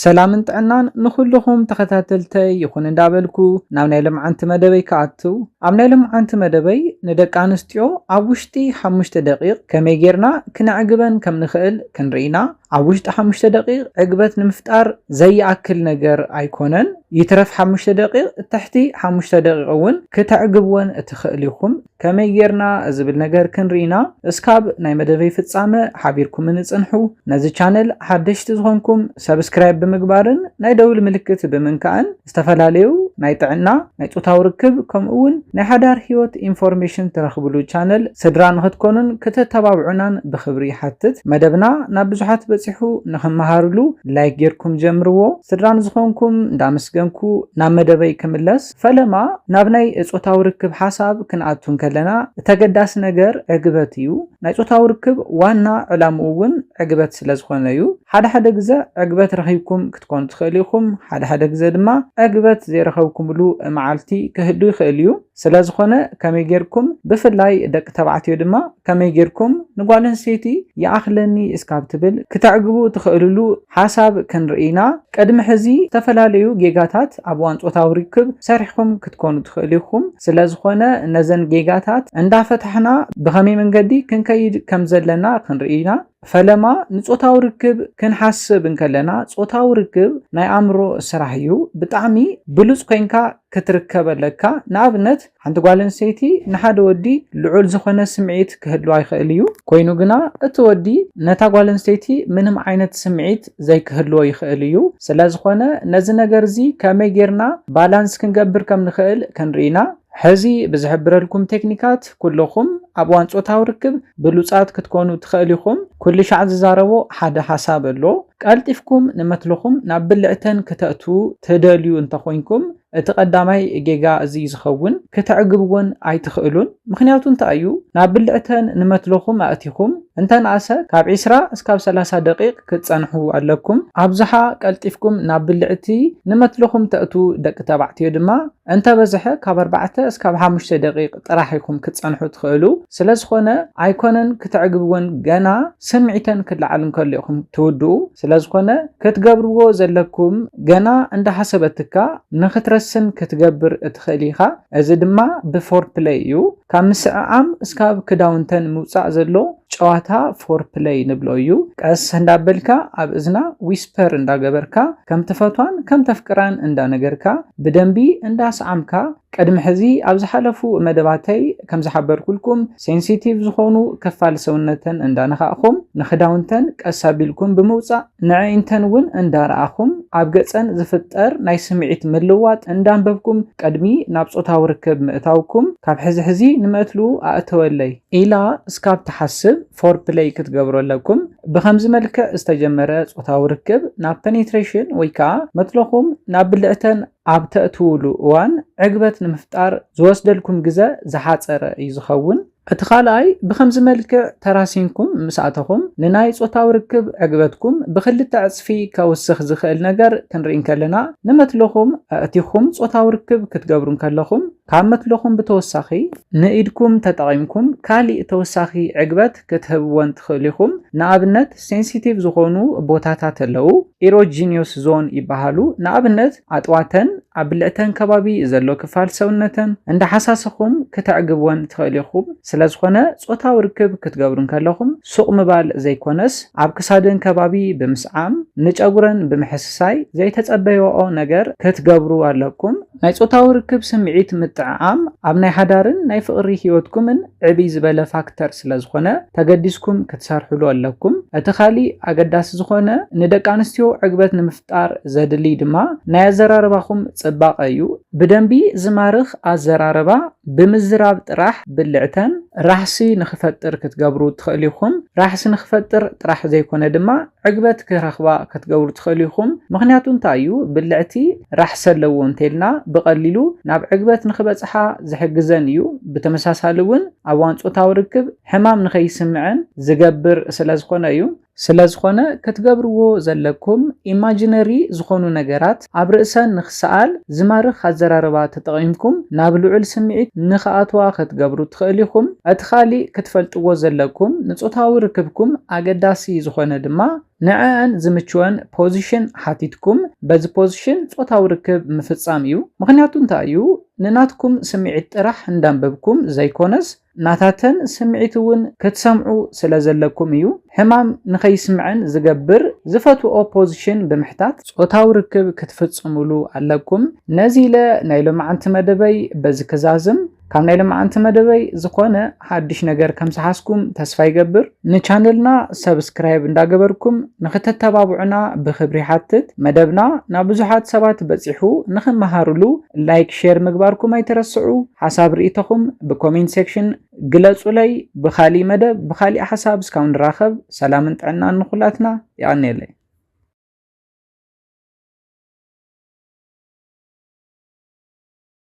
ሰላምን ጥዕናን ንኹሉኹም ተኸታተልተይ ይኹን እንዳበልኩ ናብ ናይ ሎምዓንቲ መደበይ ክኣትው። ኣብ ናይ ሎምዓንቲ መደበይ ንደቂ ኣንስትዮ ኣብ ውሽጢ ሓሙሽተ ደቂቕ ከመይ ጌርና ክነዕግበን ከም ንኽእል ክንርኢ ኢና። ኣብ ውሽጢ ሓሙሽተ ደቂቕ ዕግበት ንምፍጣር ዘይኣክል ነገር ኣይኮነን። ይትረፍ ሓሙሽተ ደቂቕ ትሕቲ ሓሙሽተ ደቂቕ እውን ክተዕግብወን ትኽእሉ ኢኹም። ከመይ ጌርና ዝብል ነገር ክንርኢ ኢና እስካብ ናይ መደበይ ፍጻመ ሓቢርኩምኒ ጽንሑ ነዚ ቻነል ሓደሽቲ ዝኾንኩም ሰብስክራይብ ብምግባርን ናይ ደውል ምልክት ብምንካእን ዝተፈላለዩ ናይ ጥዕና ናይ ጾታዊ ርክብ ከምኡ ውን ናይ ሓዳር ሂወት ኢንፎርሜሽን ትረኽብሉ ቻነል ስድራ ንኽትኮኑን ክተተባብዑናን ብኽብሪ ይሓትት መደብና ናብ ብዙሓት በጺሑ ንኽመሃርሉ ላይክ ጌርኩም ጀምርዎ ስድራ ንዝኾንኩም እንዳመስገንኩ ናብ መደበይ ክምለስ ፈለማ ናብ ናይ ጾታዊ ርክብ ሓሳብ ክንኣቱ እንከለና ተገዳሲ ነገር ዕግበት እዩ። ናይ ጾታዊ ርክብ ዋና ዕላምኡ እውን ዕግበት ስለ ዝኾነ እዩ። ሓደ ሓደ ግዘ ዕግበት ረኺብኩም ክትኮኑ ትኽእሉ ኢኹም፣ ሓደ ሓደ ግዘ ድማ ዕግበት ዘይረኸብኩምሉ መዓልቲ ክህሉ ይኽእል እዩ። ስለ ዝኾነ ከመይ ጌርኩም ብፍላይ ደቂ ተባዕትዮ ድማ ከመይ ጌርኩም ንጓል ኣንስተይቲ ይኣኽለኒ እስካብ ትብል ክተዕግቡ ትኽእልሉ ሓሳብ ክንርኢ ኢና። ቅድሚ ሕዚ ዝተፈላለዩ ጌጋታት ኣብ እዋን ጾታዊ ርክብ ሰሪሕኩም ክትኮኑ ትኽእሉ ኢኹም። ስለ ዝኾነ ነዘን ጌጋታት እንዳፈታሕና ብኸመይ መንገዲ ክንከይድ ከም ዘለና ክንርኢ ኢና። ፈለማ ንጾታዊ ርክብ ክንሓስብ እንከለና ጾታዊ ርክብ ናይ ኣእምሮ ስራሕ እዩ። ብጣዕሚ ብሉጽ ኮይንካ ክትርከብ ኣለካ። ንኣብነት ሓንቲ ጓል ኣንስተይቲ ንሓደ ወዲ ልዑል ዝኾነ ስምዒት ክህልዋ ይኽእል እዩ፣ ኮይኑ ግና እቲ ወዲ ነታ ጓል ኣንስተይቲ ምንም ዓይነት ስምዒት ዘይክህልዎ ይኽእል እዩ። ስለ ዝኾነ ነዚ ነገር እዚ ከመይ ጌርና ባላንስ ክንገብር ከም ንኽእል ክንርኢ ኢና። ሕዚ ብዝሕብረልኩም ቴክኒካት ኩልኹም ኣብ እዋን ጾታዊ ርክብ ብሉጻት ክትኮኑ ትኸእሉ ኢኹም። ኩልሻዕ ዝዛረቦ ሓደ ሓሳብ ኣሎ። ቀልጢፍኩም ንመትልኹም ናብ ብልዕተን ክተእትዉ ትደልዩ እንተ ኾይንኩም፣ እቲ ቀዳማይ ጌጋ እዚ እዩ ዝኸውን ክተዕግብወን ኣይትኽእሉን ምኽንያቱ እንታይ እዩ ናብ ብልዕተን ንመትሎኹም ኣእቲኹም እንተንኣሰ ካብ ዕስራ እስካብ ሰላሳ ደቂቅ ክትጸንሑ ኣለኩም ኣብዝሓ ቀልጢፍኩም ናብ ብልዕቲ ንመትሎኹም ተእትዉ ደቂ ተባዕትዮ ድማ እንተበዝሐ ካብ ኣርባዕተ እስካብ ሓሙሽተ ደቂቅ ጥራሕ ኢኹም ክትጸንሑ ትኽእሉ ስለዝኾነ ኣይኮነን ክተዕግብወን ገና ስምዒተን ክለዓል እንከሎ ኢኹም ትውድኡ ስለዝኾነ ክትገብርዎ ዘለኩም ገና እንዳሓሰበትካ ንክትረስን ክትገብር እትኽእል ኢኻ እዚ ድማ ብፎርፕለይ እዩ ካብ ምስዕዓም እስካብ ክዳውንተን ምውጻእ ዘሎ ጨዋታ ፎርፕለይ ንብሎ እዩ ቀስ እንዳበልካ ኣብ እዝና ዊስፐር እንዳገበርካ ከምትፈቷን ከምተፍቅራን እንዳነገርካ ብደንቢ እንዳስዓምካ ቅድሚ ሕዚ ኣብ ዝሓለፉ መደባተይ ከምዝሓበርኩልኩም ሴንሲቲቭ ዝኾኑ ክፋል ሰውነተን እንዳነኻእኹም ንኽዳውንተን ቀስ ኣቢልኩም ብምውጻእ ንዕኢንተን እውን እንዳረኣኹም ኣብ ገጸን ዝፍጠር ናይ ስምዒት ምልዋጥ እንዳንበብኩም ቅድሚ ናብ ጾታዊ ርክብ ምእታውኩም ካብ ሕዚ ሕዚ ንመትሉ ኣእተወለይ ኢላ እስካብ ትሓስብ ፎርፕለይ ክትገብሩ ኣለኩም። ብኸምዚ መልክዕ ዝተጀመረ ጾታዊ ርክብ ናብ ፐኔትሬሽን ወይ ከኣ መትሎኹም ናብ ብልዕተን፣ ኣብ ተእትዉሉ እዋን ዕግበት ንምፍጣር ዝወስደልኩም ግዘ ዝሓፀረ እዩ ዝኸውን። እቲ ካልኣይ ብኸምዚ መልክዕ ተራሲንኩም ምስ ኣተኹም ንናይ ፆታዊ ርክብ ዕግበትኩም ብኽልተ ዕፅፊ ከውስኽ ዝኽእል ነገር ክንርኢ እንከለና ንመትልኹም ኣእቲኹም ፆታዊ ርክብ ክትገብሩ እንከለኹም ካብ መትሎኹም ብተወሳኺ ንኢድኩም ተጠቒምኩም ካሊእ ተወሳኺ ዕግበት ክትህብዎን ትኽእሉ ኢኹም። ንኣብነት ሴንሲቲቭ ዝኾኑ ቦታታት ኣለው፣ ኢሮጂኒዮስ ዞን ይበሃሉ። ንኣብነት ኣጥዋተን፣ ኣብ ብልዕተን ከባቢ ዘሎ ክፋል ሰውነተን እንዳሓሳሰኹም ክተዕግብወን ትኽእሉ ኢኹም። ስለዝኾነ ጾታዊ ርክብ ክትገብሩ እንከለኹም ሱቕ ምባል ዘይኮነስ ኣብ ክሳደን ከባቢ ብምስዓም፣ ንጨጉረን ብምሕስሳይ ዘይተጸበይዋኦ ነገር ክትገብሩ ኣለኩም። ናይ ጾታዊ ርክብ ስምዒት ምጥዕዓም ኣብ ናይ ሓዳርን ናይ ፍቕሪ ህይወትኩምን ዕብይ ዝበለ ፋክተር ስለዝኾነ ተገዲስኩም ክትሰርሕሉ ኣለኩም። እቲ ካሊእ ኣገዳሲ ዝኾነ ንደቂ ኣንስትዮ ዕግበት ንምፍጣር ዘድልይ ድማ ናይ ኣዘራርባኹም ጽባቐ እዩ። ብደንቢ ዝማርኽ ኣዘራርባ ብምዝራብ ጥራሕ ብልዕተን ራሕሲ ንኽፈጥር ክትገብሩ ትኽእሉ ኢኹም። ራሕሲ ንኽፈጥር ጥራሕ ዘይኮነ ድማ ዕግበት ክረኽባ ክትገብሩ ትኽእሉ ኢኹም። ምኽንያቱ እንታይ እዩ? ብልዕቲ ራሕሲ ኣለዎ እንተይልና ብቐሊሉ ናብ ዕግበት ንኽበጽሓ ዝሕግዘን እዩ። ብተመሳሳሊ እውን ኣብ እዋን ጾታዊ ርክብ ሕማም ንኸይስምዐን ዝገብር ስለዝኾነ እዩ። ስለዝኾነ ክትገብርዎ ዘለኩም ኢማጂነሪ ዝኾኑ ነገራት ኣብ ርእሰን ንክሰኣል ዝማርኽ ኣዘራርባ ተጠቒምኩም ናብ ልዑል ስምዒት ንክኣትዋ ከትገብሩ ትኸእሉ ኢኹም። እቲ ካሊእ ክትፈልጥዎ ዘለኩም ንጾታዊ ርክብኩም ኣገዳሲ ዝኾነ ድማ ንዐኣን ዝምችወን ፖዚሽን ሓቲትኩም በዚ ፖዚሽን ጾታዊ ርክብ ምፍጻም እዩ። ምኽንያቱ እንታይ እዩ ንናትኩም ስምዒት ጥራሕ እንዳንበብኩም ዘይኮነስ፣ ናታተን ስምዒት እውን ክትሰምዑ ስለ ዘለኩም እዩ ሕማም ንኸይስምዐን ዝገብር ዝፈትወኦ ፖዝሽን ብምሕታት ጾታዊ ርክብ ክትፍጽምሉ ኣለኩም ነዚ ኢለ ናይ ሎምዓንቲ መደበይ በዚ ክዛዝም ካብ ናይ ሎምዓንቲ መደበይ ዝኾነ ሓድሽ ነገር ከም ዝሓዝኩም ተስፋ ይገብር። ንቻነልና ሰብስክራይብ እንዳገበርኩም ንክተተባብዑና ብክብሪ ይሓትት። መደብና ናብ ብዙሓት ሰባት በፂሑ ንክመሃርሉ ላይክ ሼር ምግባርኩም ኣይትረስዑ። ሓሳብ ርኢቶኹም ብኮሜንት ሴክሽን ግለፁለይ። ብካሊእ መደብ ብካሊእ ሓሳብ እስካብ ንራኸብ ሰላምን ጥዕናን ንኩላትና። የቀንየለይ።